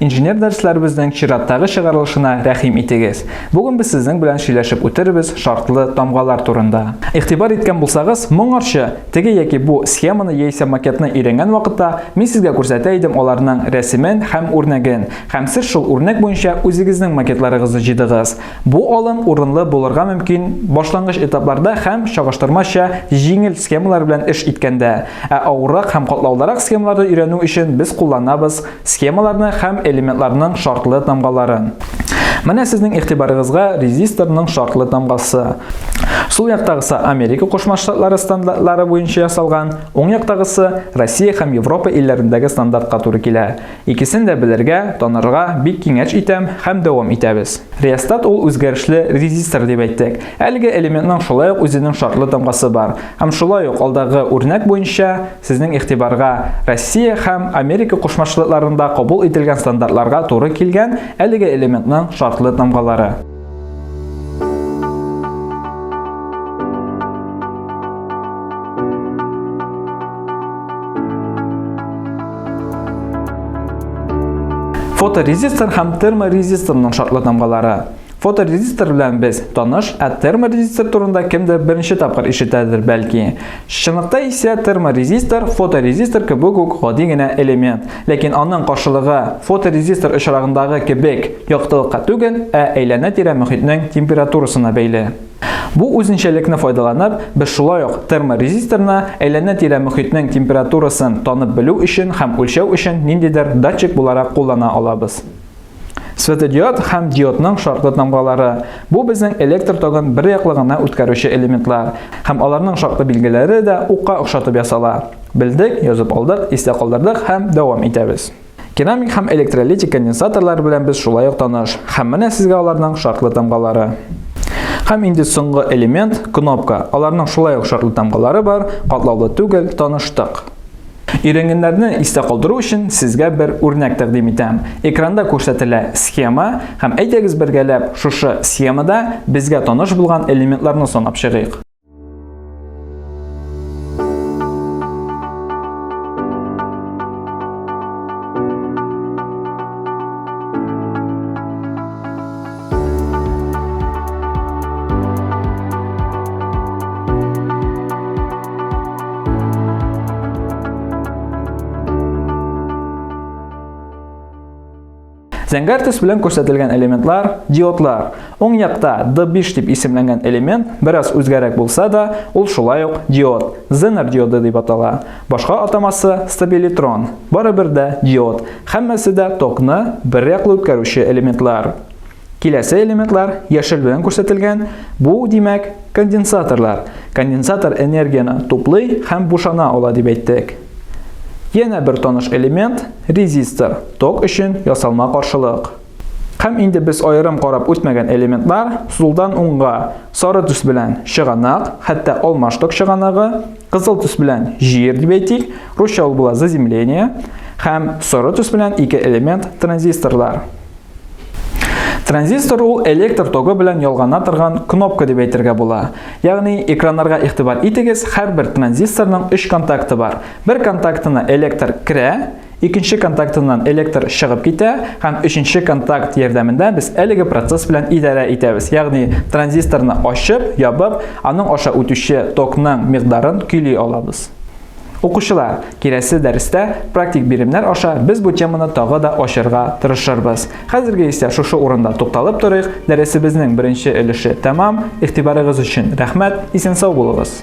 Инженер дәресләребезнең чираттагы чыгарылышына рәхим итегез. Бүген без сезнең белән сөйләшеп үтербез шартлы тамгалар турында. Игътибар иткән булсагыз, моңарчы теге яки бу схеманы яисә макетны өйрәнгән вакытта, мин сезгә күрсәтә идем аларның рәсемен һәм үрнәген, һәм сез шул үрнәк буенча үзегезнең макетларыгызны җыйдыгыз. Бу алым урынлы булырга мөмкин башлангыч этапларда һәм чагыштырмача җиңел схемалар белән эш иткәндә, ә авыррак һәм катлаулырак схемаларны өйрәнү өчен без кулланабыз Схемаларны һәм элементларның шартлы тамгаларын. Менә сезнең игътибарыгызга резисторның шартлы тамгасы. Сул яктагысы Америка Кушма Штатлары стандартлары буенча ясалган, уң яктагысы Россия һәм Европа илләрендәге стандартка туры килә. Икесен дә белергә, танырга бик киңәш итәм һәм дәвам итәбез. Реостат ул үзгәрешле резистор дип әйттек. Әлеге элементның шулай ук үзенең шартлы тамгасы бар. Һәм шулай ук алдагы үрнәк буенча, Сезнең игътибарга Россия һәм Америка Кушма Штатларында кабул ителгән стандартларга туры килгән әлеге элементның шартлы тамгалары. фоторезистор һәм терморезисторның шартлы тамгалары Фоторезистор белән без таныш, ә терморезистор турында кемдер беренче тапкыр ишетәдер, бәлки. Чынлыкта исә терморезистор, фоторезистор кебек үк гади генә элемент, ләкин аның каршылыгы фоторезистор очрагындагы кебек яктылыкка түгел, ә әйләнә-тирә мөхитнең температурасына бәйле. Бу үзенчәлекне файдаланып, без шулай ук терморезисторны әйләнә-тирә мөхитнең температурасын танып белү өчен һәм үлчәү өчен ниндидер датчик буларак куллана алабыз. Светодиод һәм диодның шартлы тамгалары. Бу безнең электр тогын бер яклы гына үткәрүче элементлар. Һәм аларның шартлы билгеләре дә укка охшатып ясала. Белдек, язып алдык, истә калдырдык һәм дәвам итәбез. Керамик һәм электролитик конденсаторлар белән без шулай ук таныш. Һәм менә сезгә аларның шартлы тамгалары. Һәм инде соңгы элемент, кнопка. Аларның шулай ук шартлы тамгалары бар, катлаулы түгел, таныштык. Өйрәнгәннәрне истә калдыру өчен сезгә бер үрнәк тәкъдим итәм. Экранда күрсәтелә схема һәм әйдәгез бергәләп шушы схемада безгә таныш булган элементларны санап чыгыйк. Зәңгәр төс белән күрсәтелгән элементлар диодлар. Уң якта D5 дип исемләнгән элемент бераз үзгәрәк булса да, ул шулай ук диод, Zener диоды дип атала. Башка атамасы стабилитрон, барыбер дә диод, һәммәсе дә токны бер яклы үткәрүче элементлар. Киләсе элементлар яшел белән күрсәтелгән, бу, димәк, конденсаторлар. Конденсатор энергияне туплый һәм бушана ала дип әйттек. Янә бер таныш элемент, резистор, ток өчен ясалма каршылык. Һәм инде без аерым карап үтмәгән элементлар сулдан уңга, сары төс белән чыганак, хәтта алмаштык чыганагы, Кызыл төс белән җир дип әйтик, русча ул була заземление, һәм соры төс белән ике элемент транзисторлар. Транзистор ул электр тогы белән ялгана торган кнопка дип әйтергә була. Ягъни экраннарга игътибар итегез, һәрбер транзисторның 3 контакты бар. Бер контактына электр керә, Икенче контактыннан электр чыгып китә һәм өченче контакт ярдәмендә без әлеге процесс белән идарә итәбез. Ягъни транзисторны ачып, ябып, аның аша үтүче токның микъдарын көйли алабыз. Укучылар, киләсе дәрестә практик биремнәр аша без бу теманы тагы да ачырга тырышырбыз. Хәзерге исә шушы урында тукталып торыйк. Дәресебезнең беренче өлеше тәмам. Игътибарыгыз өчен рәхмәт. Исән-сау булыгыз.